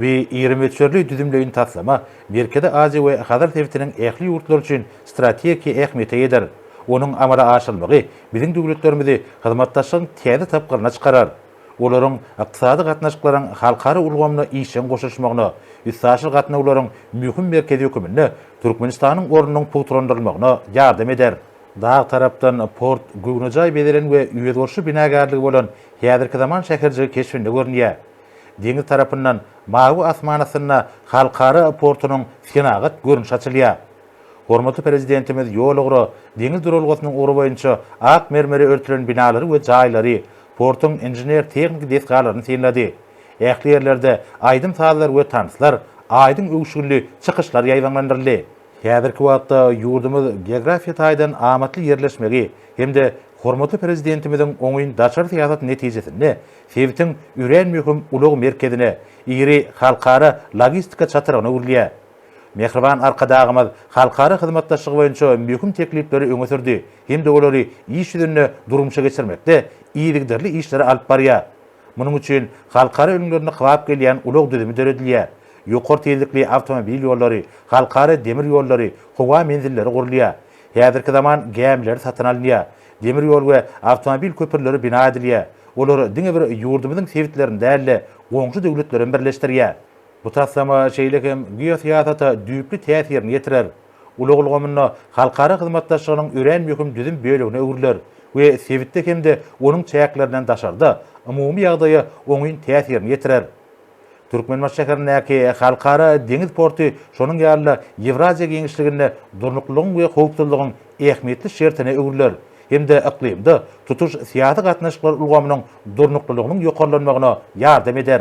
Bu iri möçberli düzümleýin taslama Merkezi Aziýa we Hazar sebitiniň ähli ýurtlary üçin strategiki ähmiýete eýedir. Onuň amala aşyrylmagy biziň döwletlerimizi hyzmatdaşlygyň täze tapgyryna çykarar. Olaryň ykdysady gatnaşyklaryň halkara ulgamyna işjeň goşulyşmagyna, üstaşyr gatnawlaryň möhüm merkezi höküminde Türkmenistanyň ornunyň pugtalandyrylmagyna ýardam eder. Dag tarapdan port göwnejaý bezelen we özboluşly binagärligi bolan häzirki zaman şäherjigi keşbinde görünýär. Deňiz tarapyndan mawy asman astynda halkara portunyň senagat görnüşi açylýar. Hormatly Prezidentimiz ýol-ugra, deňiz duralgasynyň ugry boýunça ak mermere örtülen binalary we jaýlary, portuň inžener-tehniki desgalaryny synlady. Ähli ýerlerde aýdym-sazlar we tanslar, aýdyň öwüşginli çykyşlar ýaýbaňlandyryldy. Häzirki wagtda ýurdumyz geografiýa taýdan amatly ýerleşmegi hem-de hormatly Prezidentimiziň oňyn daşary syýasaty netijesinde Sebitiň örän möhüm ulag merkezine, iri halkara logistika çatrygyna öwrülýär. Mähriban Arkadagymyz halkara hyzmatdaşlygy boýunça möhüm teklipleri öňe sürdi hem-de olary iş ýüzünde durmuşa geçirmekde yzygiderli işleri alyp barýar. Munuň üçin halkara ülňülerine kybap gelýän ulag düzümi döredilýär, ýokary tizlikli awtomobil ýollary, halkara demir ýollary, howa menzilleri gurulýar, häzirki zaman gämileri satyn alynýar, Demir ýol we awtomobil köprüleri bina edilýär. Olar diňe bir ýurdumyzyň sebitlerini däl-de, goňşy döwletlerem birleşdirýär. Bu taslama şeýle hem geosyýasata düýpli täsirini ýetirer. Ulag ulgamynda halkara hyzmatdaşlygynyň örän möhüm düzüm bölegine öwrüler we sebitde hem-de onuň çäklerinden daşarda umumy ýagdaýa oňyn täsirini ýetirer. Türkmenbaşy şäherindäki Halkara deňiz porty şonuň ýaly-da Ýewraziýa giňişliginde durnuklylygyň we howpsuzlygyň ähmiýetli şertine öwrüler hem-de yklymda tutuş syýasy gatnaşyklar ulgamynyň durnuklylygynyň ýokarlanmagyna ýardam eder.